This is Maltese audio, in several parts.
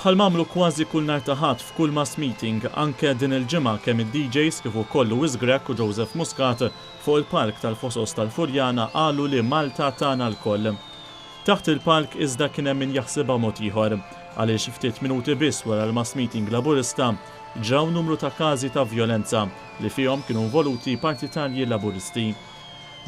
Bħal m'għamlu kważi kull nhar ta' Ħadd f'kull mass meeting, anke din il-ġimgħa kemm id-DJs kif ukoll Louis Grech u Joseph Muscat fuq il-palk tal-Fosos tal-Furjana qalu li Malta tagħna lkoll. Taħt il-palk iżda kien hemm min jaħsibha mod ieħor, għaliex ftit minuti biss wara l-mass meeting Laburista ġraw numru ta' każi ta' vjolenza li fihom kienu involuti partitarji Laburisti.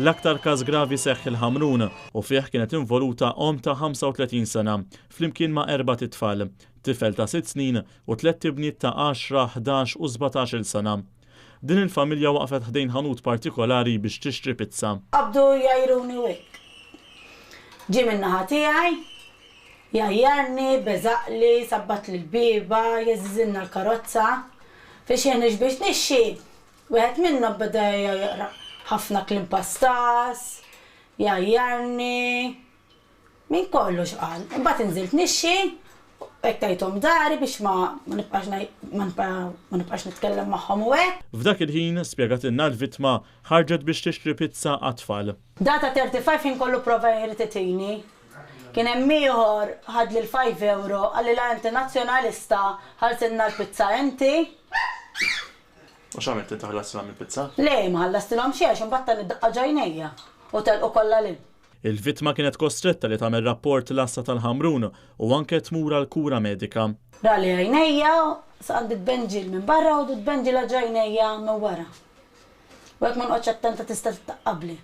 L-aktar każ gravi seħħ il-Ħamrun, u fih kienet involuta omm ta' 35 sena, flimkien ma' erbat itfal, tifel ta' sitt snin u tlett ibniet ta' għaxra, ħdax u sbatax-il sena. Din il-familja waqfet ħdejn ħanut partikolari biex tixtri pizza. Qabdu jgħajruni wekk. Ġie min-naħa tiegħi, jgħajjarni, beżaqli, sabbatli l-bieba, jeżżiżilna l-karozza. Fi xieħniex biex nixxi, wieħed minnhom beda jgħajjaraq ħafna kliem pastas, Jgħajjarni minn kollox qal. Imbagħad inżilt nixxi u hekk tajthom dari biex ma nibqax ma nibqax nitkellem magħhom u hekk. F'dak il-ħin, spjegatilna l-vittma, ħarġet biex tixtri pizza għat-tfal. Dak ta' 35 ħin kollu pprova jeħli titini. Kien hemm ieħor ħadli l-five euro, qalli la inti Nazzjonalista, ħalltilna l-pizza inti. U x'għamilt inti ħallastilhom il-pizza? Le, ma ħallastilhom xejn għax imbagħad tani daqqa ġ'għajnejja u telqu kollha lil. Il-vittma kienet kostretta li tagħmel rapport l-Għassa tal-Ħamrun u anke tmur għal kura medika. Ra li għajnejja għandi tbenġil minn barra u tbenġila ġ'għajnejja minn wara. U jekk ma nqgħodx attenta tista' tittaqqabli.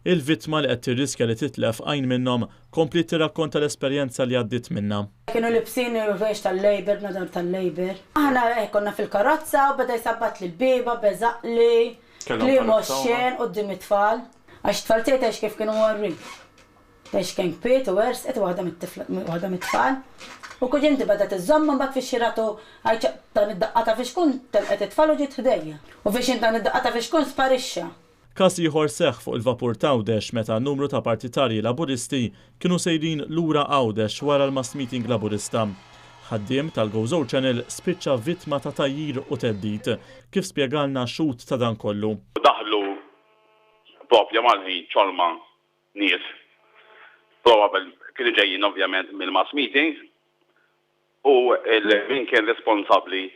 Il-vittma li qed tirriskja li titlef għajn minnhom, kompliet tirrakkonta l-esperjenza li għaddiet minnha. Kienu libsin il-ħwejjeġ tal-Labour, bnadar tal-Labour. Aħna hekk konna fil-karozza u beda jsabbatli l-bieba, beżaqli, kliem oxxen quddiem it-tfal. Għax it-tfal tiegħi tgħidx kif kienu mgħorrin. Tgħidx kien kbit u għersqet waħda waħda mit-tfal. U kuġinti bedet iżżommha mbagħad fiex xi ratu għajt dan id-daqqa ta' fixkun telqet it-tfal u ġiet ħdejja. U fiex int dan id-daqqa ta' fixkun sparixxa. Każ ieħor seħħ fuq il-vapur t'Għawdex meta numru ta' partitarji Laburisti kienu sejrin lura Għawdex wara l-mass meeting Laburista. Ħaddiem tal-Gozo Channel spiċċa vittma ta' tgħajjir u theddid, kif spjegalna xhud ta' dan kollu. Daħlu proprja mal-ħin ċolma nies, probabel kienu ġejjin ovvjament mill-mass meeting u min kien responsabbli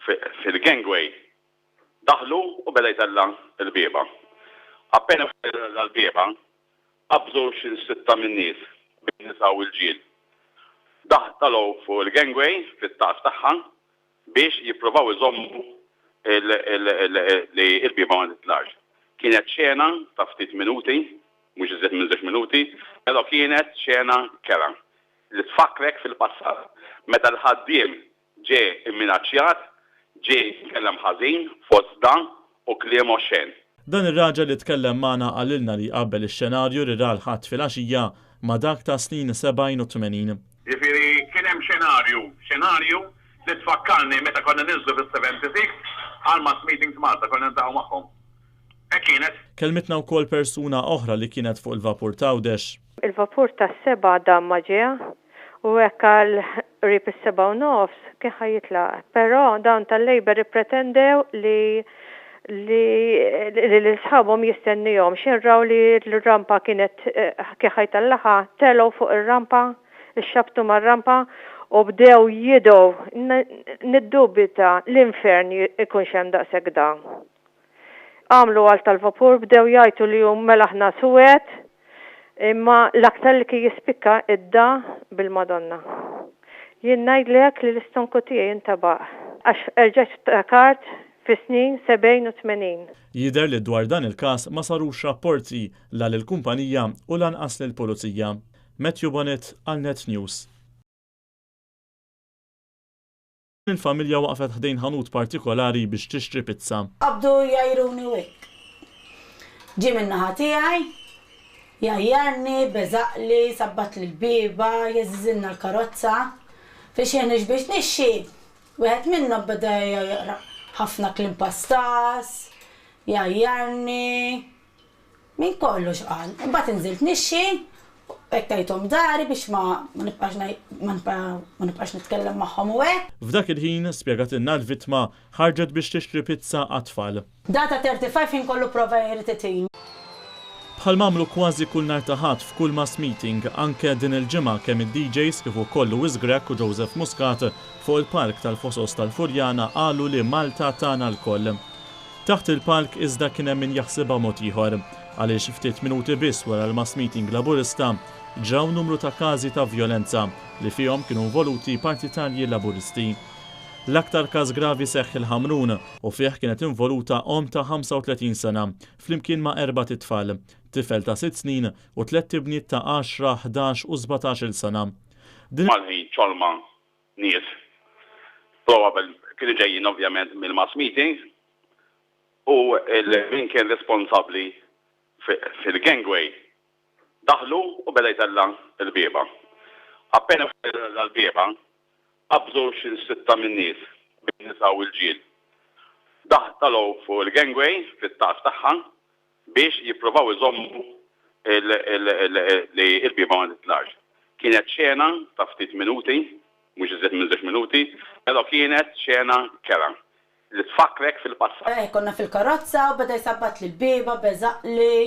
fil-gangway Daħlu u beda jtella' l-bieba. Appena tella' l-bieba, qabżu xi sitta min-nies, bejn nisa u rġiel. Daħ talgħu fuq il-gangway fit-tagħż tagħha biex jippruvaw iżommu li l-bieba ma titlax. Kienet xena ta' ftit minuti, mhux iżjed minn żewġ minuti, pero' kienet xena kerha li tfakkrek fil-passat meta l-ħaddiem Ġie mminaċċjat, ġie mkellem ħażin, fost dan, u kliem oxxen. Dan ir-raġel li tkellem magħna qalilna li jqabbel ix-xenarju li ra l-Ħadd filgħaxija ma' dak tas-snin 70 u 80. Jiġifieri kien hemm xenarju, xenarju li tfakkarni meta konna ninżlu fis-76 għal mass meetings Malta, konna niltaqgħu magħhom. Hekk kienet. Kellmitna wkoll persuna oħra li kienet fuq il-vapur t'Għawdex. Il-vapur tas-sebgħa dam ma ġie, U hekk għal qrib is-sebgħa u nofs kien ħa jitlaq. Però dawn tal-Labour ippretendew li li li lil sħabhom jistennihom. X'ħin raw li l-rampa kienet kien ħa jtellagħha, telgħu fuq ir-rampa, ixxabbtu mar-rampa u bdew jidgħu. Niddubita l-infern ikunx hemm daqshekk dagħa. Għamlu għalt tal-vapur, bdew jgħajtu li hu mela aħna suwed, imma l-aktar li kien jispikka id-da bil-Madonna. Jien ngħidlek li l-istonku tiegħi intabaq għax erġajt ftakart fis-snin sebgħin u tmenin. Jidher li dwar dan il-każ ma sarux rapporti la lill-kumpanija u lanqas lill-Pulizija. Matthew Bonnitt għal Net News. Il-familja waqfet ħdejn ħanut partikolari biex tixtri pizza. Qabdu jgħajruni wikk. Ġie min-naħa tiegħi, jgħajjarni, beżaqli, sabbatli l-bieba, jeżiżilna l-karozza. Fi xħin hux biex nixxi, wieħed minnhom beda jaqra' ħafna kliem pastas, jgħajjarni. Minn kollox qal. Imbagħad inżilt nixxi, hekk tajthom dari biex ma nibqax ma nibqax nitkellem magħhom u hekk. F'dak il-ħin, spjegatilna l-vittma, ħarġet biex tixtri pizza għat-tfal. Data 35 ħin kollu prova jrid it-tim. Bħalma għamlu kważi kull nhar ta' Ħadd f'kull mass meeting, anke din il-ġimgħa kemm id-DJs kif ukoll Louis Grech u Joseph Muscat fuq il-palk tal-Fosos tal-Furjana qalu li Malta tagħna lkoll. Taħt il-palk iżda kien hemm min jaħsibha mod ieħor, għaliex ftit minuti biss wara l-mass meeting Laburista, ġraw numru ta' każi ta' vjolenza li fihom kienu involuti partitarji Laburisti. L-aktar każ gravi seħħ il-Ħamrun u fih kienet involuta omm ta' 35 sena flimkien ma' erbat itfal, tifel ta' sitt snin u tlett ibniet ta' għaxra, ħdax u sbatax-il sena. Din. Malħin Colman nies probabel kienu ġejjin ovvjament mill-mass meeting u min kien responsabbli fil-gangway daħlu u beda jtella' l-bieba. Appena beda jtella' l-bieba qabżu xi sitta min-nies bejn nisa u rġiel. Daħ talgħu fuq il-gangway fit-tagħż tagħha biex jippruvaw iżommu li l-bieba ma titlax. Kienet xena ta' ftit minuti, mhux iżjed minn żewġ minuti, pero' kienet xena kerha, li tfakkrek fil-passat. Eħ, konna fil-karozza u beda jsabbatli l-bieba, beżaqli,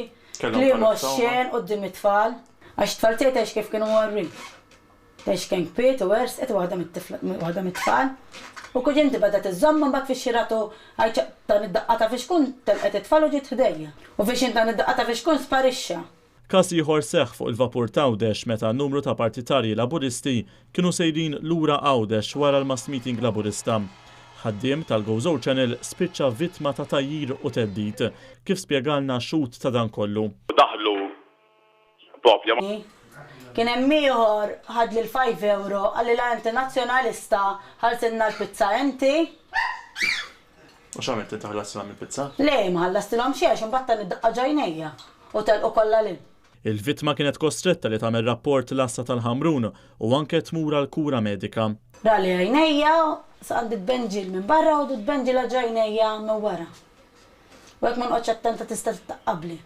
kliem oxxen quddiem it-tfal, għax it-tfal tgħid għax kif kienu mgħorrin. Tgħix kien kwiet u għerz qed waħda waħda mit-tfal. U kuġinti bedet iżżomm imbagħad fix-xirat u għajt dan id-daqqa ta' fixkun telqet it-tfal u ġiet ħdejja. U fixin dan id-daqqa ta' fixkun sparixxa. Każ ieħor seħħ fuq il-vapur t'Għawdex meta numru ta' partitarji Laburisti kienu sejrin lura Għawdex wara l-mass meeting Laburista. Ħaddiem tal-Gozo Channel spiċċa vittma ta' tgħajjir u theddid. Kif spjegalna xhud ta' dan kollu. U daħlu Bobja. Kien hemm ieħor ħad lil five euro qalli la inti nazzjonalista ħallsilna l-pizza inti. U x'għamilt inti ħallastilhom il-pizza? Le ma ħallastilhom xejn għax imbagħad tani daqqa ġ'għajnejja u telqu kollha lil. Il-vittma kienet kostretta li tagħmel rapport l-Għassa tal-Ħamrun u anke tmur għal kura medika. Rali għajnejja s'għandi tbenġil minn barra u tbenġila ġ'għajnejja minn wara. U jekk ma nqgħodx attenta tista' tittaqqabli.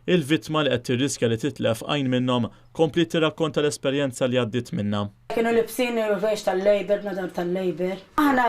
Il-vittma li qed tirriskja li titlef għajn minnhom, kompliet tirrakkonta l-esperjenza li għaddiet minnha. Kienu libsin il-ħwejjeġ tal-Labour, b'nodor tal-Labour.